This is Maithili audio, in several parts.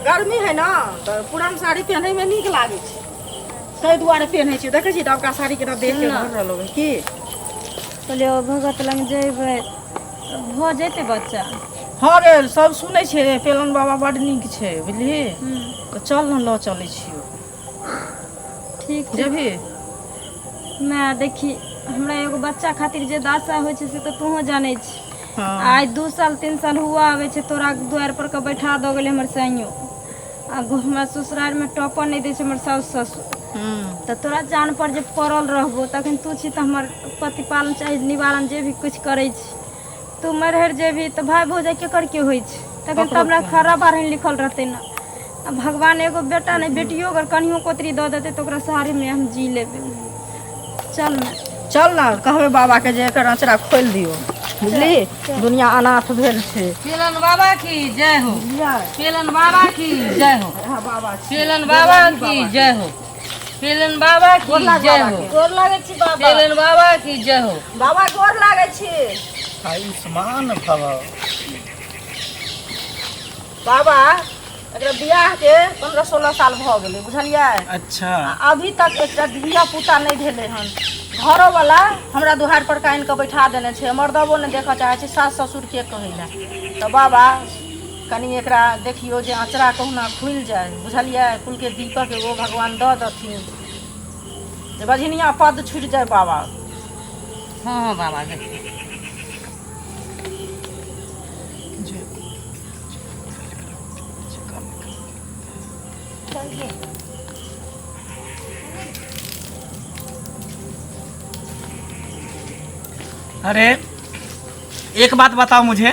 गर्मी है ने तऽ पुरान साड़ी पहनैमे नीक लागै छै ताहि दुआरे पहनै छियै देखै छियै नवका साड़ी केना देख के भर रहल होबै की कहलियै ओ भगत लग जेबै भऽ जेतै बच्चा हँ रे सब सुनै छै पेलन बाबा बड नीक छै बुझलिही तऽ चल ने लऽ चलै छियौ ठीक छै जेबही मै देखी हमरा एगो बच्चा खातिर जे दासा होइ छै से तऽ तोहूँ जानै छी हँ आइ दू साल तीन साल हुआ आबै छै तोरा दुआरि पर के बैठा दऽ गेलै हमर साइयो आ हमरा ससुरार मे टॉपर नहि दै छै हमर साासु ससुर हूँ तऽ तोरा जान पर जे पड़ल रहबो तखन तू छी तऽ हमर प्रतिपालन चाही निवारण जे भी किछु करै छी तू मरहर जेबही तऽ भाय भौजाइ केकर के होइ छै तखन तऽ हमरा खरा बारहन लिखल रहतै ने आ भगवान एगो बेटा नहि बेटियो अगर कनियो कोतरी दऽ देतै तऽ ओकरा सहारेमे हम जी लेबै चल ने चल ने कहबै बाबाके जे एकर अँचरा खोलि दियौ बुझली दुनिया अनाथ भेल छै केलन बाबा की जय हो केलन बाबा की जय हो बाबा केलन बाबा की जय हो पेलन बाबा की गोर लाग जय बाबा हो के। गोर लागै छी बाबा पेलन बाबा की जय हो बाबा गोर लागै छी आयुष्मान भव बाबा एकरा बियाह के पंद्रह सोलह साल भऽ गेलै बुझलियै अच्छा आ अभी तक एकटा धिया पुता नहि भेलै हन घरोवला हमरा दुहार पर कानि कऽ बैठा देने छै मर्दबो नहि देखऽ चाहै छै सास ससुर के कहै लए तऽ बाबा कनि एकरा देखियौ जे अँचरा कहुना खुलि जाय बुझलियै कुलके दीपक एगो भगवान दऽ देथिन जे बझिनिया पद छुटि जाय बाबा हँ हँ बाबा देखियौ अरे एक बात बताओ मुझे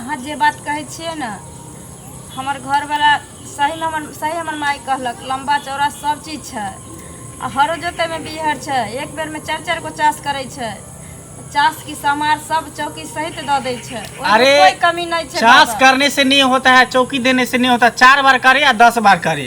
अहाँ जे बात कहै छियै ने हमर घरवला सहीमे हमर सही हमर माय कहलक लम्बा चौड़ा सब चीज छै आ हरो जोतैमे बिहर छै एक बेरमे चारि चारि गो चास करै छै चास की सामान सब चौकी सहित दऽ दै छै ओहिमे अरे, कोई कमी नहि छै चास बाबा। करने से नहीं होता है चौकी देने से नहीं होता चार बार करे या दस बार करे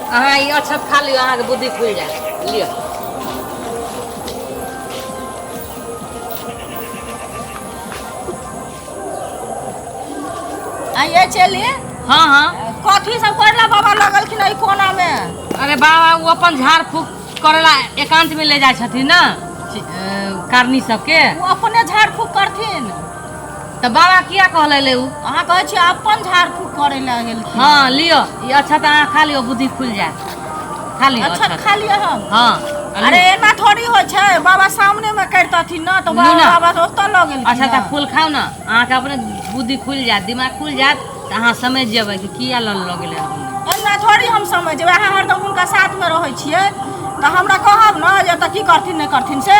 अहाँ ई अक्षत खा लियौ अहाँके बुद्धि खुलि जायत लिअ आइए चलिए हाँ हाँ कथी सब करला बाबा लगलखिन एहि कोना में अरे बाबा वो अपन झाड़ फूक करेला एकांत में ले जाए छथिन ना कारनी सबके वो अपने झाड़ फूक करथिन तऽ बाबा किया कहले ले उ अहाँ कहै छी अपन झाड़ फूक करे ला गेल हाँ लियो ई अच्छा तऽ अहाँ खा लियो बुद्धि खुल जाए खा लियो अच्छा अच्छा खा लिअ हम हाँ अरे एना थोड़ी होइ छै बाबा सामने मे करितथिन ना तो बाबा ना। बाबा ओतऽ लऽ गेल अच्छा तऽ फूल खाउ ने अहाँके अपने बुद्धि खुल जायत दिमाग खुल जायत तऽ अहाँ समझ जेबै कि किया लल लऽ गेलै हन। एना थोड़ी हम समझ जेबै अहाँ हरदम हुनका साथ मे रहै छियै तऽ हमरा कहब ने जे एतऽ की करथिन नहि करथिन से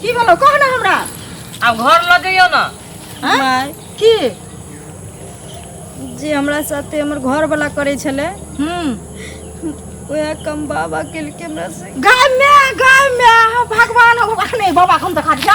की भेलो कह ना हमरा आब घर लऽ जइयो ना हाँ? माय की जे हमरा साथे हमर घर वाला करे छले हम्म वह कम बाबा केलके हमरा से गाय में गाय में हाँ, भगवान हो अखने बाबा के हम देखा दिया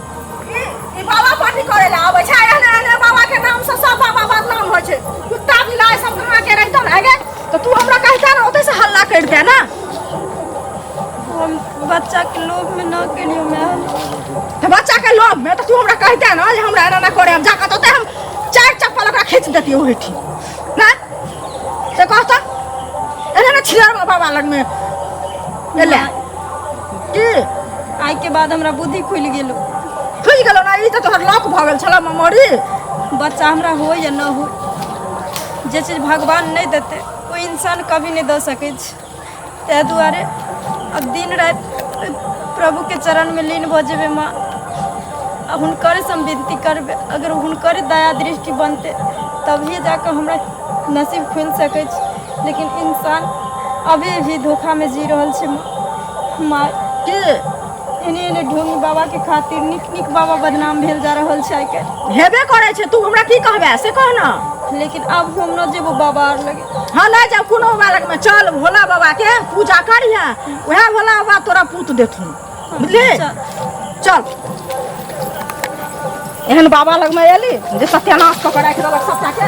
ई बाबा पार्टी करे ला आवे छै एहने एहने बाबा के नाम से सब बाबा बदनाम हो छै कुत्ता बिलाय सब कहां के रहतो ना गे तो तू हमरा कहता ना ओते से हल्ला कर दे ना हम बच्चा के लोभ में ना केलियो मैं तो बच्चा के लोभ में तो तू हमरा कहता ना जे हमरा एना ना करे हम जाके तो ओते हम चार चप्पल ओकरा खींच देती ओही ठी ना से कहता एना ना छिलर बाबा लग में एले की आइ के बाद हमरा बुद्धि खुलि गेल खुलि गेल ना ई तऽ तोहर लॉक भऽ गेल छला मेमोरी बच्चा हमरा हो या न हो जे चीज भगवान नहि देते ओ इंसान कभी नहि दऽ सकै छै ताहि दुआरे अब दिन राति प्रभु के चरण में लीन भऽ जेबै माँ आ हुनकरे से हम विनती करबै अगर हुनकरे दया दृष्टि बनतै तभिए जाकऽ हमरा नसीब खुलि सकै छै लेकिन इन्सान अभी भी धोखामे जी रहल छै माँ के एने एने ढोंगी बाबाके खातिर नीक नीक बाबा बदनाम भेल जा रहल छै आइ काल्हि हेबे करै छै तू हमरा की कहबे से कह ना लेकिन आब हम न जेबो बाबा आर लगे हाँ ले जाओ कोनो बालक में चल भोला बाबा के पूजा करिहे वह भोला बाबा तोरा पूत देथुन बुझली चल एहन बाबा लगमे एली जे सत्यानाश कऽ के राखि देलक सभटाके